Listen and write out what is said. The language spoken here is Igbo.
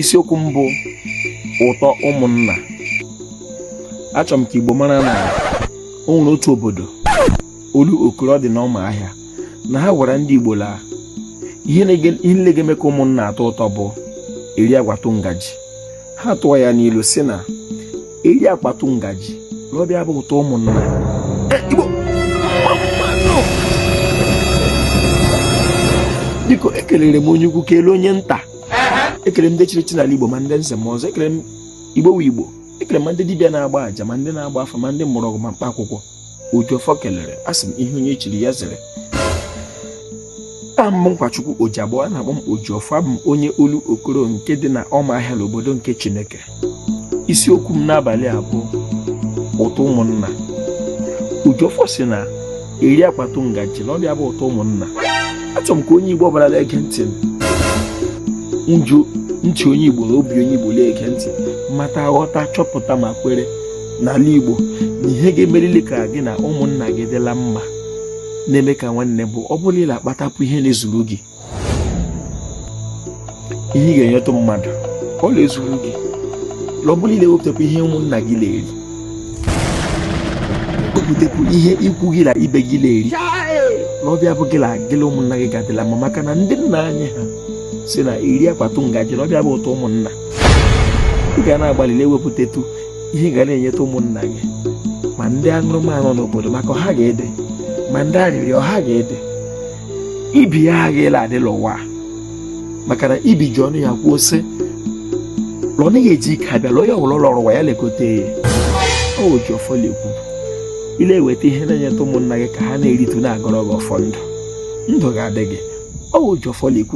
isiokwu mbụ ụtọ ụmụnna achọ m ka Igbo mara na o nwere otu obodo olu okoro dị n'ọma ahịa na ha gwara ndị Igbo la ihe nile ga-eme ka ụmụnna atọ ụtọ bụ eri akpatụ ngaji ha tụọ ya n'ilu sị na eri akpatụ ngaji na ọ bụ ya bụ ụtọ ụmụnna igbo biko ekelere m onye ukwu kelee onye nta ekele m ndị chiri echi n'ala igbo ma ndị nze ma ọzọ ekele m igbo wu igbo ekele ma ndị dibịa na-agba aja ma ndị na-agba afa ma ndị mgbọrọgwụ ma mkpa akwụkwọ Ojiọfọ kelere asị m ihe onye chiri ya zere aha m bụ Nkwachukwu Ojiabọ a na-akpọ m Ojiọfọ abụ m onye olu okoro nke dị na ọmahịa n'obodo nke Chineke isiokwu m n'abalị a bụ ụtọ ụmụnna Ojiọfọ sị na eri akpatụ ngaji na ọ bụ ya bụ ụtọ ụmụnna achọ m ka onye Igbo ọ bụla na-ege ntị ji ntị onye Igbo na obi onye Igbo na-ege ntị mata ghọta chọpụta ma kwere n'ala Igbo na ihe ga-emerili ka gị na ụmụnna gị dịla mma na-eme ka nwanne bụ ọ bụ la ị na-akpatapụ ihe na-ezuru gị ihe ị ga-enyetụ mmadụ ọ na-ezuru gị ọ bụ la ị na-ewepụtapụ ihe ụmụnna gị na-eri wepụtapụ ihe ikwu gị na ibe gị na-eri na ọ bụ ya bụ gị na gị la ụmụnna gị ga-adịla mma maka na ndị nna anyị ha sị na eri akpatụ ngaji na ọ bụ ya bụ ụtọ ụmụnna ị ga na-agbalị na-ewepụtatụ ihe ga na-enyeta ụmụnna gị ma ndị aṅụrụma nọ n'obodo maka ha ga-ịdị ma ndị arịrịọ ha ga-ịdị ibi ya ha ga-ịla adị la ụwa maka na ibi ji ọnụ ya kwuo sị la ọ naghị eji ike abịa la onye ọ wụla ọ lọrọ ụwa ya lekọta ya Ojiọfọ la-ekwu ị le-eweta ihe na-enyeta ụmụnna gị ka ha na-eritụ na-agọrọ gị ọfọ ndụ ndụ ga-adị gị Ojiọfọ la-ekwu